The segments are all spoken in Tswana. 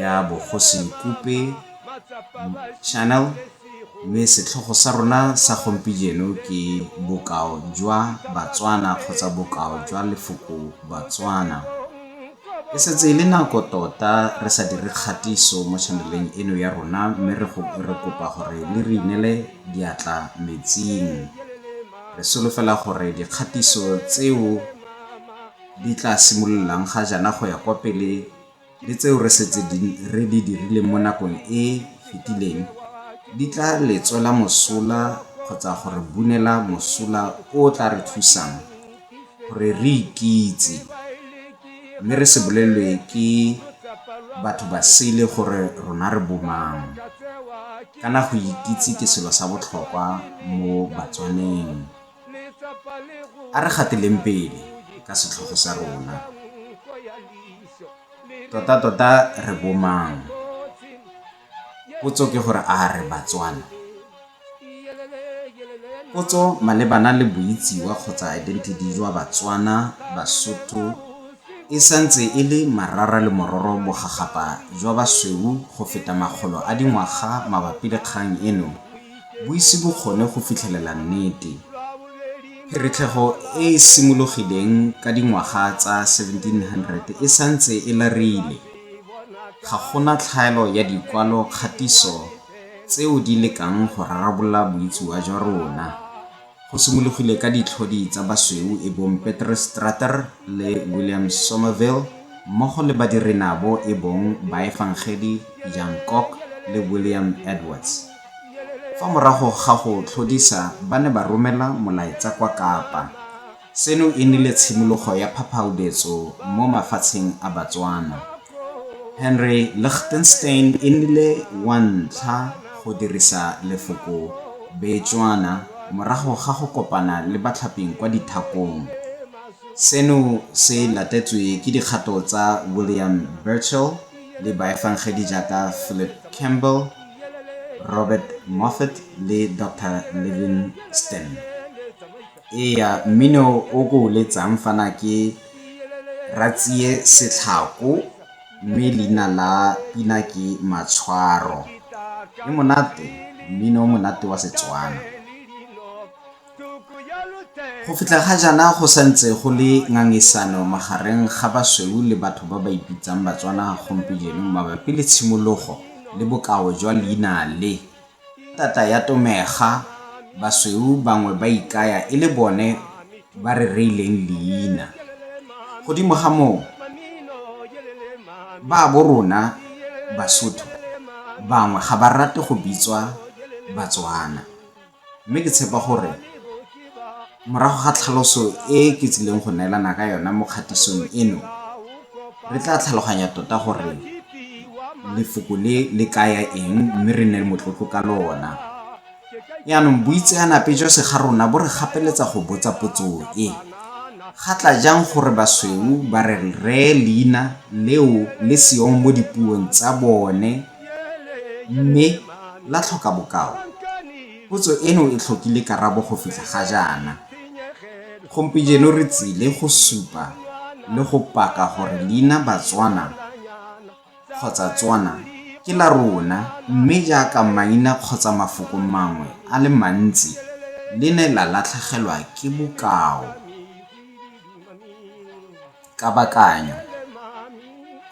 ya Bogosi Nkupe Channel mme setlhogo sa rona sa gompijeno ke bokao jwa Batswana kgotsa bokao jwa lefoko Batswana. E setse e le nako tota re sa dire kgatiso mo channeleng eno ya rona mme re kopa gore le re inele diatla metsing. Re solofela gore dikgatiso tseo di tla simololang ga jaana go ya kwa pele le tseo re setse re di dirileng mo nakong e fetileng di tla le tswela mosola kgotsa go re bunela mosola o o tla re thusang gore re ikitse mme re se bolelwe ke batho ba sele gore rona re bomang kana go ikitse ke selo sa botlhokwa mo batswaneng A re gateleng pele ka setlhogo sa rona. Totatota re bomang? Potso ke gore a re Batswana? Potso malebana le boitsiwa kgotsa identity jwa Batswana, Basotho e santse e le marara le mororo bogagapa jwa basweu go feta makgolo a dingwaga mabapi le kgang eno. Boisibokgone go fitlhelela nnete. Pheretlhego e e simologileng ka dingwaga tsa 1700 e sa ntse e larile. Ga go na tlhaelo ya dikwalo kgatiso tseo di lekang go rarabolola boitsiwa jwa rona. Go simologile ka ditlhodi tsa basweu e bong Peter Strater le William Somerville mmogo le badirinabo e bong Baefangedi Jan Kok le William Edwards. Fa morago ga go tlhodisa ba ne ba romela molaetsa kwa Kapa. Seno e nnile tshimologo ya phaphaubetso mo mafatsheng a Batswana. Henry Lichtenstein e nnile wa ntlha go dirisa lefoko Betswana morago ga go kopana le batlhaping kwa dithakong. Seno se latetswe ke dikgato tsa William Burchell le baefangedi jaaka Philip Campbell, Robert Moffat le Doctor Livingstone. Ee, mmino o ke o letsang fa na ke Ratsie Setlhako mme leina la pina ke Matshwaro. E monate, mmino o monate wa Setswana. Go fitlha ga jaana go sa ntse go le ngangisano magareng ga basweu le batho ba ba ipitsang Batswana gompieno mabapi le tshimologo le bokao jwa leina le. Tata ya Tomega, basweu bangwe ba ikaya e le bone ba re reileng leina. Godimo ga moo, baabo rona Basotho bangwe ga ba rate go bitswa Batswana, mme ke tshepa gore Morago ga tlhaloso e ke tsileng go neelana ka yona mo kgatisong eno, re tla tlhaloganya tota gore lefoko le le kaya eng mme re nne motlotlo ka lona. Jaanong boitseanape jwa segarona bo re gapeletsa go botsa potso e, Ga tla jang gore basweu ba re ree leina leo le seong mo dipuong tsa bone mme la tlhoka bokao? Potso eno e tlhokile karabo go fitlha ga jaana. Gompijeno re tsile go supa le go paka gore leina Batswana kgotsa Tswana ke la rona mme jaaka maina kgotsa mafoko mangwe a le mantsi le ne la latlhegelwa ke bokao. Kabakanyo.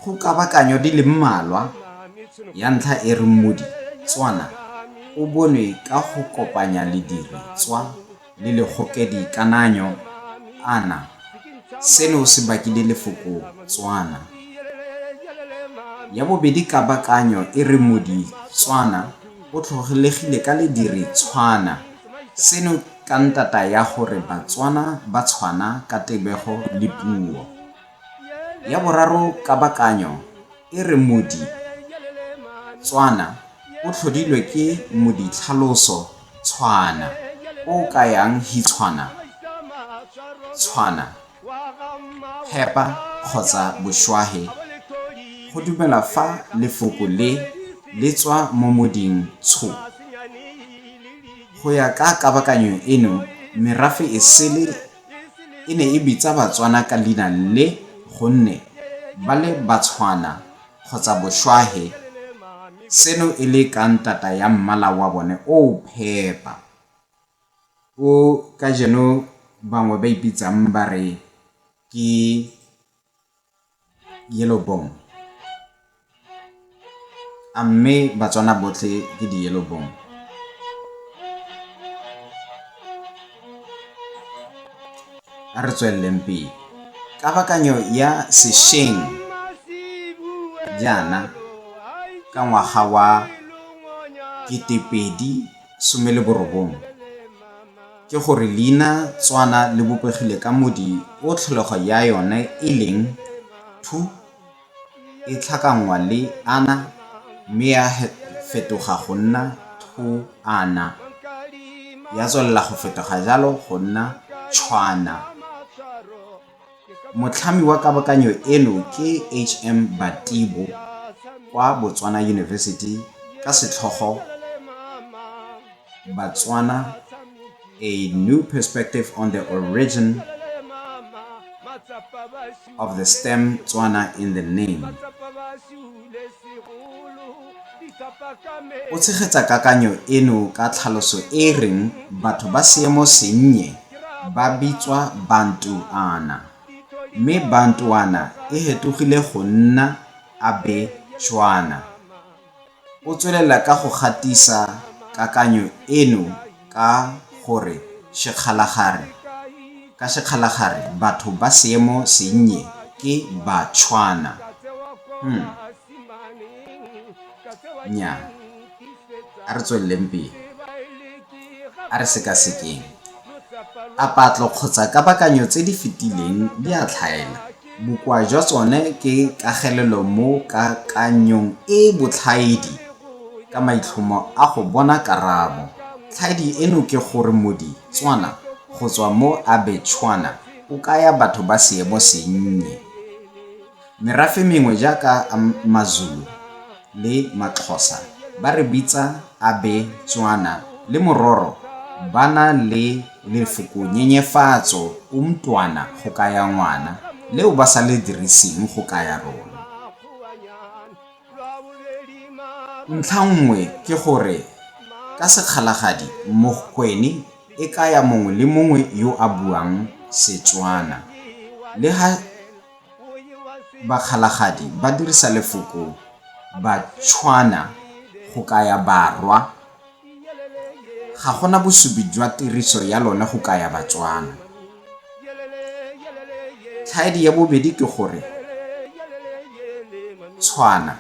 Go kabakanyo di le mmalwa, ya ntlha e re mmodi, Tswana, o bonwe ka go kopanya lediri, tswa, le legokedi, kananyo, ana. Seno se bakile lefoko, Tswana. Ya bobedi kabakanyo e re modi, Tswana, o tlhogolegile ka lediri, tshwana, Seno ka ntata ya gore Batswana ba tshwana ka tebego le puo. Ya boraro kabakanyo e re Modi, Tswana, o tlhodilwe ke moditlhaloso Tshwana, o o kayang hitshwana, tshwana. Hepa kgotsa Boshwahe go dumela fa lefoko le le tswa mo moding Tsho. Go ya ka kabakanyo eno, merafe e sele e ne e bitsa Batswana ka leina le gonne ba le Batshwana kgotsa Boshwahe, seno e le ka ntata ya mmala wa bone o o phepa. o ka jeno bangwe ba ipitsang ba re ke yellow bone a mme batswana botlhe ke di-yellow bone a re tsweleleng pele kabakanyo ya sešweng jaana ka ngwaga wa ketepedi some le borobong ke gore leina tswana le bopegile ka modi o tlholego ya yone e leng thu e tlhakanngwa le ana mme ya fetoga go nna thu ana ya tswelela go fetoga jalo go nna tshwana Motlhami wa kabakanyo eno ke HM Batibo kwa Botswana University ka setlhogo Batswana A New Perspective on the Origin of the Stem Tswana in the Name. O tshegetsa kakanyo eno ka tlhaloso e e reng batho ba seemo sennye ba bitswa Bantuana, mme Bantuana e hetogile go nna Abe Tswana. O tswelela ka go gatisa kakanyo eno ka gore sekgalagare ka sekgalagare batho ba seemo sennye ke Batshwana. Hmm. Nya, a re tsweleleng pele. A re sekasekeng. A patlo kgotsa kabakanyo tse di fetileng di a tlhaela. Bokoa jwa tsone ke kagelelo mo kakanyong e e botlhaedi ka maitlhomo a go bona karabo. Tlhaedi eno ke gore modi, Tswana, go tswa mo Abetshwana o kaya batho ba seemo sennye. Merafe mengwe jaaka Mazulu, le Maxhosa ba re bitsa Abe Tswana le Mororo ba na le lefoko nyenyefatso umntwana go kaya ngwana, leo ba sa le diriseng go kaya rona. Ntlha nngwe ke gore ka Sekgalagadi Mogkweni e kaya mongwe le mongwe yo a buang Setswana le ha. Bakgalagadi ba dirisa lefoko Batshwana go kaya Barwa. Ga go na bosupi jwa tiriso ya lone go kaya Batswana. Tlhaedi ya bobedi ke gore Tshwana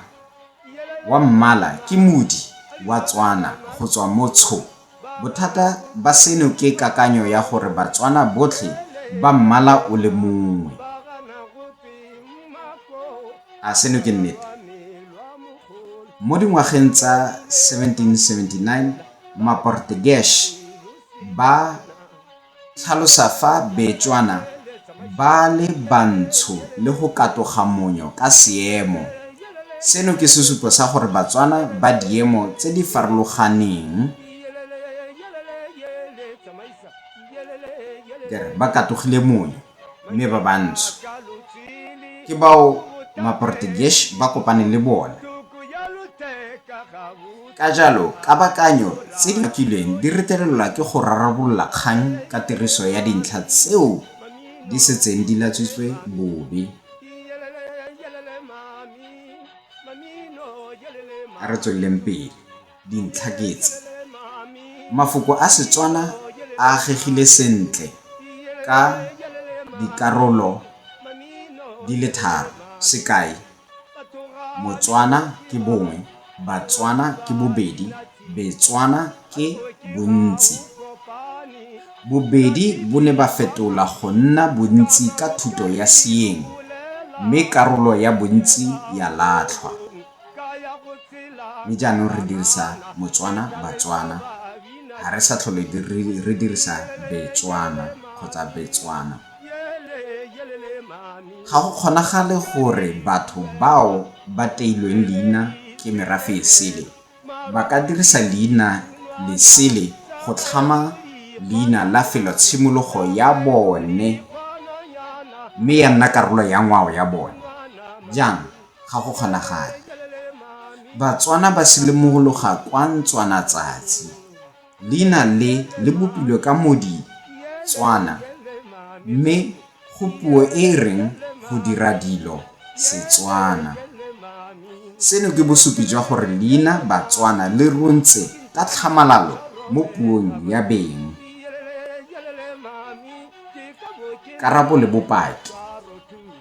wa mmala ke modi wa Tswana go tswa mo Tsho. Bothata ba seno ke kakanyo ya gore Batswana botlhe ba mmala o le mongwe. A seno ke nnete? Mo dingwageng tsa 1779, Maportegesh ba Tlhalosa fa Betswana ba le bantsho le go katoga monyo ka seemo. Seno ke sesupo sa gore Batswana ba diemo tse di farologaneng ba katogile monyo. mme ba bantsho ke bao maportuguese ba kopane le bona ka jalo kabakanyo tse di bakilweng di retelelwa ke go rarabolola kgang ka tiriso ya dintlha tseo di setseng di latswitswe bobe a re tsweleleng pele dintlhaketse. Mafoko a Setswana a agegile sentle ka dikarolo di le tharo. Sekai, Motswana ke bongwe, Batswana ke bobedi, Betswana ke bontsi. Bobedi bo ne ba fetola go nna bontsi ka thuto ya Seeng, mme karolo ya bontsi ya latlhwa. mme jaanong re dirisa Motswana, Batswana, ga re sa tlhole re dirisa Betswana kgotsa Betswana. Ga go kgonagale gore batho bao ba teilweng leina ke merafe e sele ba ka dirisa leina lesele go tlhama leina la felotshimologo ya bone mme ya nna karolo ya ngwao ya bone. Jang? ga go kgonagale. Batswana ba silimogologa kwa Ntswana tsatsi. Leina le le bopilwe ka modi Tswana mme go puo e e reng go dira dilo Setswana. Seno ke bosupi jwa gore leina Batswana le runtse ka tlhamalalo mo puong ya beng. Karabo le bopaki.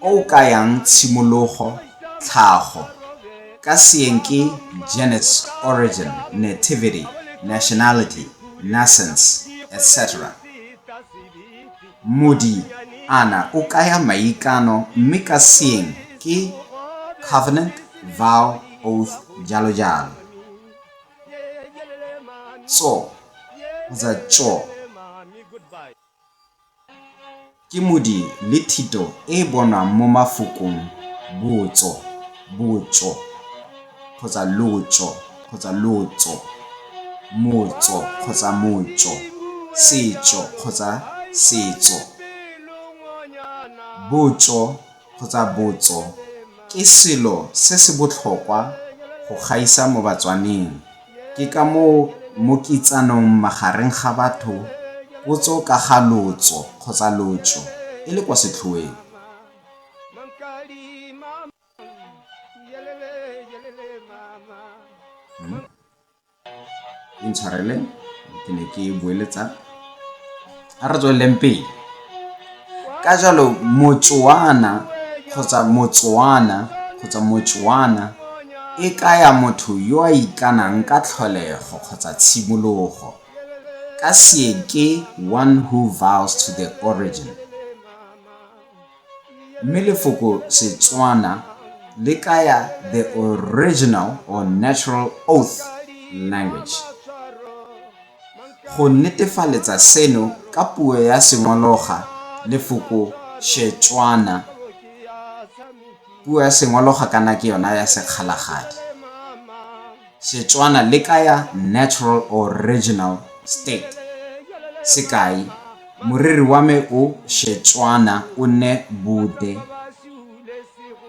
o o kayang tshimologo, tlhago, ka seeng ke genus, origin, nativity, nationality, nascence, etc. Modi, ana, o kaya maikano mme ka seeng ke covenant, vow, oath, jalo jalo. Tso, kgotsa tso, Ke modi le thito e e bonwang mo mafokong botso, botšo, kgotsa lotšo, kgotsa lotso, motso kgotsa motšo, setšo kgotsa setso. Botšo kgotsa botso ke selo se se botlhokwa go gaisa mo Batswaneng. Ke ka moo mo kitsanong magareng ga batho potso ka ga lotso kgotsa lotšo e le kwa setlhoeng. intshwarele ke ne ke boeletsa a re tsweleleng pele ka jalo motswana kgotsa motswana kgotsa motswana e kaya motho yo a ikanang ka tlholego kgotsa tshimologo ka seeke one who vows to the origin Mme lefoko Setswana le kaya the original or natural oath language. Go netefaletsa seno ka puo ya Sengologa lefoko Shetswana, puo ya Sengologa kana ke yona ya Sekgalagadi. Setswana le kaya natural or original state. Sekai, Moriri wa me o Shetswana o nne Bude.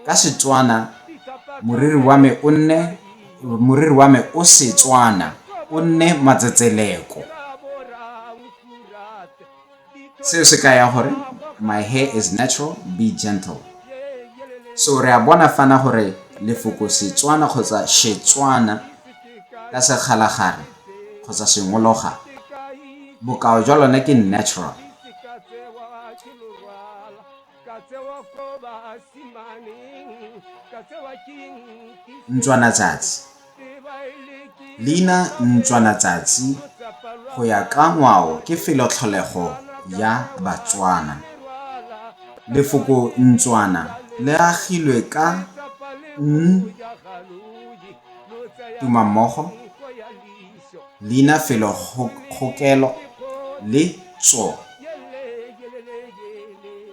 Ka Setswana, moriri wa me o nne moriri wa me o Setswana o nne Matsetseleko. seo se kaya gore my hair is natural be gentle so re a bona fana gore lefoko setswana kgotsa shetswana ka sekgalagare kgotsa sengologa bokao jwa lone ke natural ntswana tsatsi leina ntswana tsatsi go ya ka ngwao ke felotlholego ya batswana lefoko ntswana le agilwe ka n tumammogo Leina felo kgokelo le tso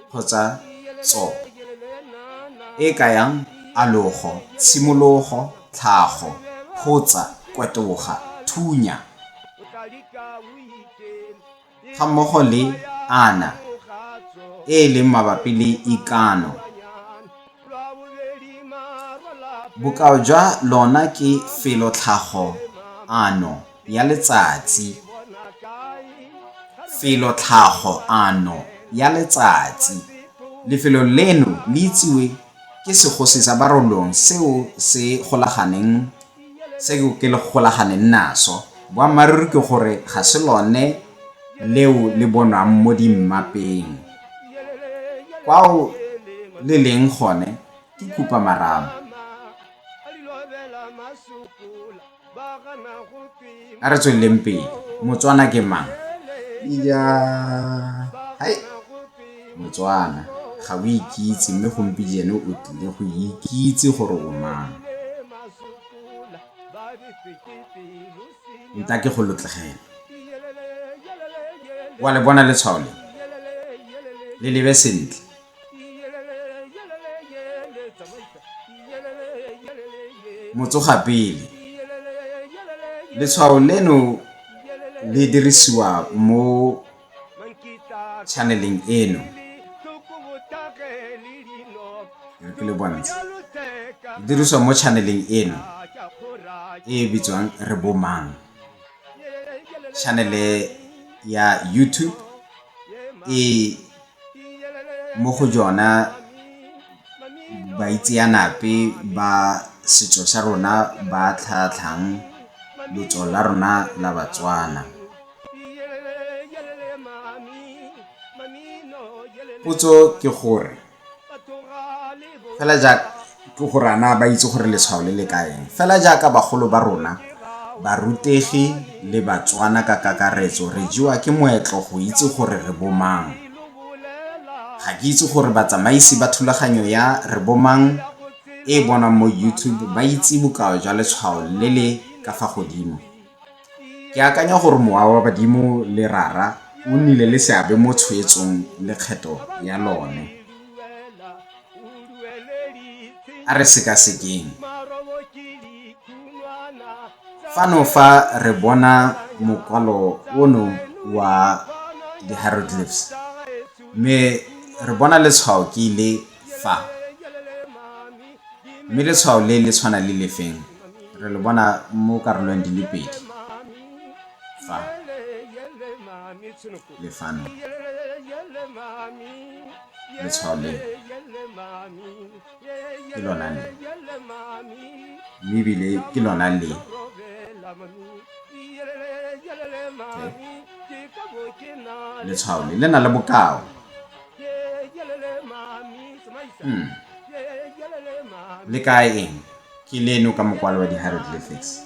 kgotsa tso, e kayang alogo, tshimologo, tlhago, photsa, kwatoga, thunya. gammogo le Ana, e e leng mabapi le ikano. Bokao jwa lona ke felo-tlhago ano ya letsatsi. Felo-tlhago ano ya letsatsi. Lefelo leno le itsiwe ke segosi sa barolong seo se golaganeng seo ke le golaganeng naso boammaaruri ke gore ga se lone leo le bonwang mo dimmapeng kwao le leng gone ke khupa marama a re tsweleleng pele motswana ke mang ija hai motswana ga o ikitse mme gompijene o tlile go ikitse gore o mang nta ke go lotlogela wa le bona letshwao le le lebe sentle Motsogapele. Letshwao leno le dirisiwa mo channeleng eno. Ke le bontsha. Le dirisiwa mo channeleng eno e e bitswang re bomang. Channel ya YouTube e mo go jona baitseanape ba setso sa rona ba tlhatlhang lotso la rona la Batswana. Potso ke gore fela jaaka. ke gore ana ba itse gore letshwao le le kaeng fela jaaka bagolo ba rona barutegi le batswana ka kakaretso re jewa ke moetlo go itse gore re bomang ga ke itse gore batsamaisi ba thulaganyo ya re bomang e bonang mo youtube ba itse bokao jwa letshwao le le ka fa godimo Ke akanya gore mowa wa badimo le rara o nnile le seabe mo tshwetsong lekgetho ya lone. A re sekasekeng. Fano fa re bona mokwalo ono wa di-hieroglyphs mme re bona letshwao ke le fa mme letshwao le le tshwana le lefeng re lo bona mo karolong di le pedi fa le fano letshwao le ke lona le mme ebile ke lona le letshwao le le na le bokao Hmm. Le ka eng? Ke leno ka mokwalo wa di-hieroglyphics.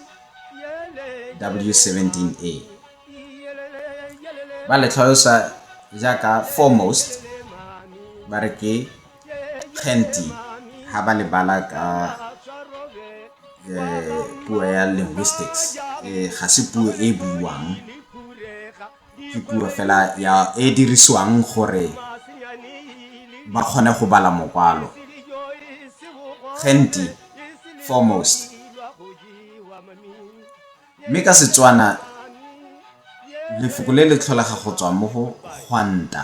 W17A. Ba le tlhalosa jaaka foremost ba re ke kgenti ha ba le bala ka eh, puo ya linguistics eh, ga se puo e buiwang ke puo fela ya e dirisiwang gore ba kgone go bala mokwalo genti foremost mme ka setswana lefoko le le tlholega go tswa mo go gwanta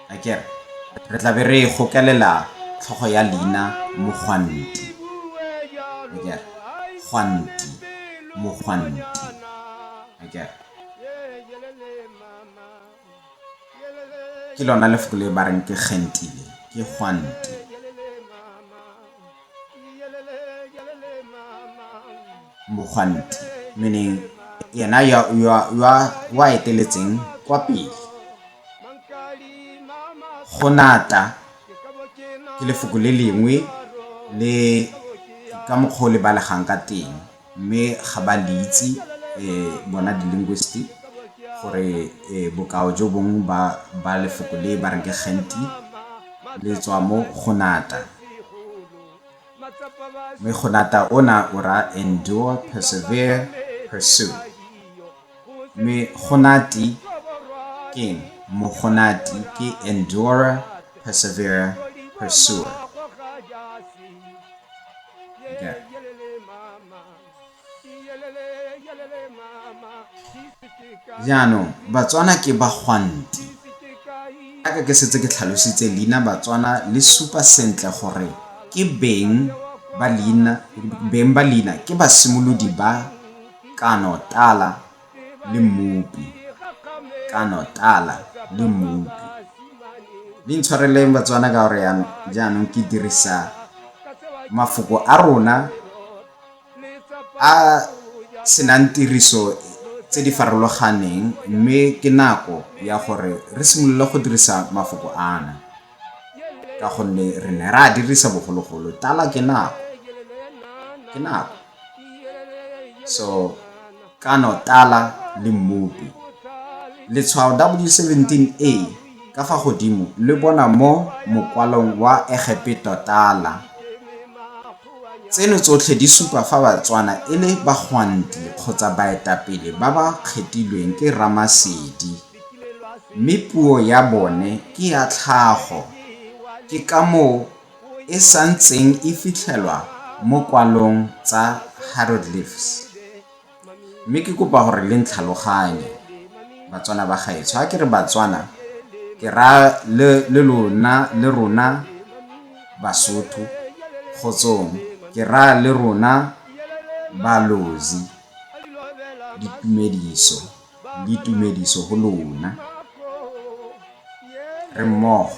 a ke re re tla be re gokelela tlhogo ya leina mogwanti a ke re gwanti mogwanti a ke re ke lona lefoko le ba reng ke gentile ke gwanti mogwanti meaning yena yo o a eteletseng kwa pele go nata ke lefoko le lengwe le ka mokgwa o le balegang ka teng Mme ga ba le itse bona di-linguist gore bokao jo bong ba lefoko le ba reng ke gently le tswa mo go nata. Mme go nata ona o raya endure, persevere, pursue. Megonati keng? Mogonati ke endure, persevere, pursue. Jaanong, Batswana ke bagwanti. Aka ke setse ke tlhalositse leina Batswana le supa sentle gore ke beng ba leina, beng ba leina ke basimolodi ba kano tala le mmopi kano tala le mmopi le ntshwareleng batswana ka gore jaanong ke dirisa mafoko a rona a senang tiriso tse di farologaneng mme ke nako ya gore re simolole go dirisa mafoko ana ka gonne re ne ra dirisa bogologolo tala ke nako ke nako so kano tala le mmopi letshwao w17a ka fa godimo le bona mo mokwalong wa egepeto tala tseno tsotlhe di supa fa batswana e le bagwanti kgotsa baetapele ba ba kgethilweng ke ramasedi mme puo ya bone ke ya tlhago ke ka moo e sa ntseng e fitlhelwa mo kwalong tsa hieroglyphs. Mme ke kopa gore le ntlhaloganye Batswana ba gaetsho. Ha ke re Batswana ke raya le le lona le rona Basotho kgotsong ke raya le rona balozi ditumediso le tumediso go lona re mmogo.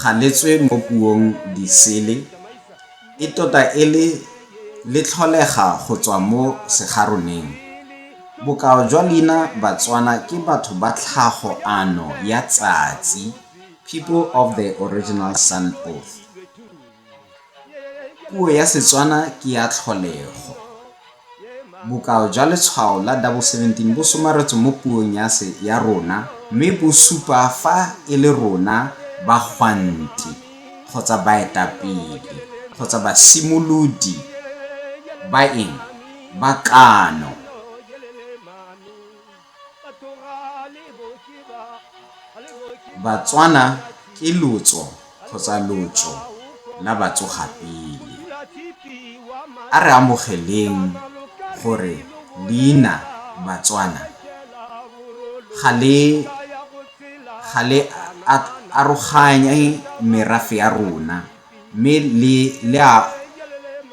Ga le tswe mo puong disele, e tota e le le tlholega go tswa mo segaroneng. Bokao jwa leina Batswana ke batho ba tlhago ano ya tsatsi, people of the original sun oath. Puo ya Setswana ke ya tlholego. Bokao jwa letshwao la double seventeen bo somaretswe mo puong ya rona mme bo supa fa e le rona bagwanti kgotsa baetapele kgotsa basimolodi ba eng, ba kano. Batswana ke lotso kgotsa lotso la batsogapele. A re amogeleng gore leina Batswana ga le ga le aroganye merafe ya rona mme le a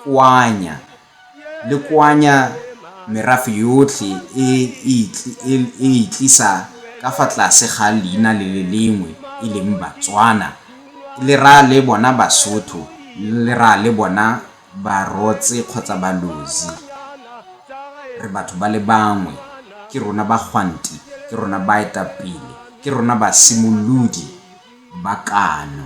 koanya le koanya merafe yotlhe e e itlisa ka fa tlase ga leina le le lengwe e leng Batswana, le raya le bona Basotho, le raya le bona Barotse kgotsa Balozi. Re batho ba le bangwe, ke rona bagwanti, ke rona baetapele, ke rona basimolodi ba kano.